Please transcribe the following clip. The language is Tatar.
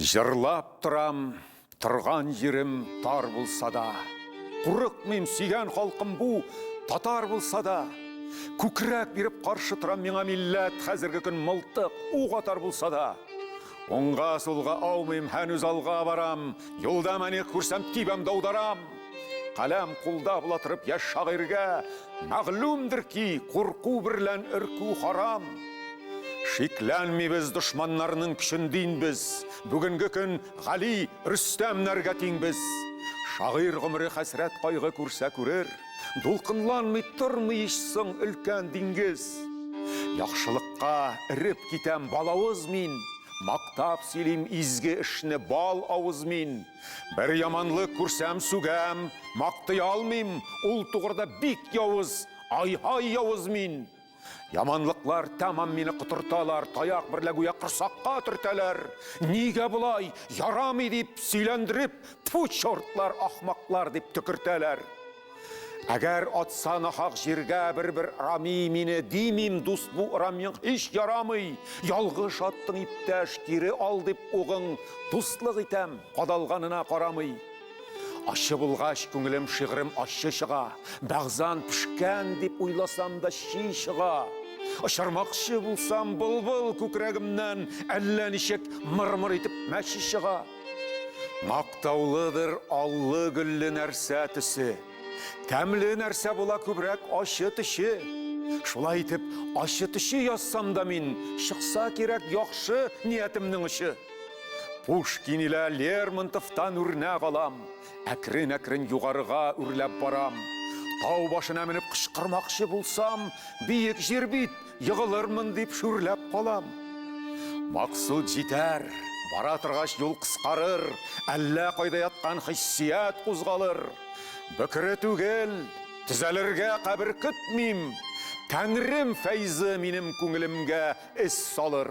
Җырлап торам, торган җирем тар булса да, Курыкмыйм, сөйгән халкым бу, татар булса да. Күкрәк биреп каршы торам миңа милләт, Хәзерге көн мылтык, ук атар булса да. Уңга, сулга аумыйм, һәнүз алга барам, Юлда мәник күрсәм, тибәм, даударам. Каләм кулда була торып яшь шагыйрьгә мәгълүмдер ки, курку берлән өркү харам. Шикләнмибез дошманнарның көчен дин без, бүгенге көн Гали, Рөстәмнәргә тиң без. Шагыйрь гомере хәсрәт кайгы күрсә күрер, дулкынланмый тормый ич соң өлкән диңгез. Яхшылыкка эреп китәм балавыз мин, мактап сөйлим изге эшне бал авыз мин. Бер яманлык күрсәм сүгәм, мактый алмыйм, ул тугрыда бик явыз, ай-һай явыз мин. Яманлыклар тәмам мине котырталар, таяк берлә гүя корсакка төртәләр. Нигә болай, ярамый дип сөйләндереп, тфу, чортлар, ахмаклар дип төкертәләр. Әгәр атса нахак җиргә бер-бер рами мине димим, дус бу рамиң һич ярамый. Ялгыш аттың иптәш, кире ал дип угың, дуслык итәм, кадалганына карамый. Ачы булгач күңелем шигырем ачы чыга, бәгъзан пешкән дип уйласам да чи чыга. Очырмакчы булсам былбыл күкрәгемнән әллә ничек мыр-мыр итеп мәче чыга. Мактаулыдыр аллы-гөлле нәрсә төсе. Тәмле нәрсә була күбрәк ачы төче. Шулай итеп, ачы төче язсам да мин, чыкса кирәк яхшы ниятемнең очы. Пушкин илә Лермонтовтан үрнәк алам, әкрен-әкрен югарыга үрләп барам. Тау башына менеп кычкырмакчы булсам, биек җир бит, егылырмын дип шүрләп калам. Максут җитәр, бара торгач юл кыскарыр, әллә кайда яткан хиссият кузгалыр. Бөкре түгел, төзәлергә кабер көтмим. Тәңрем фәйзе минем күңелемгә эз салыр.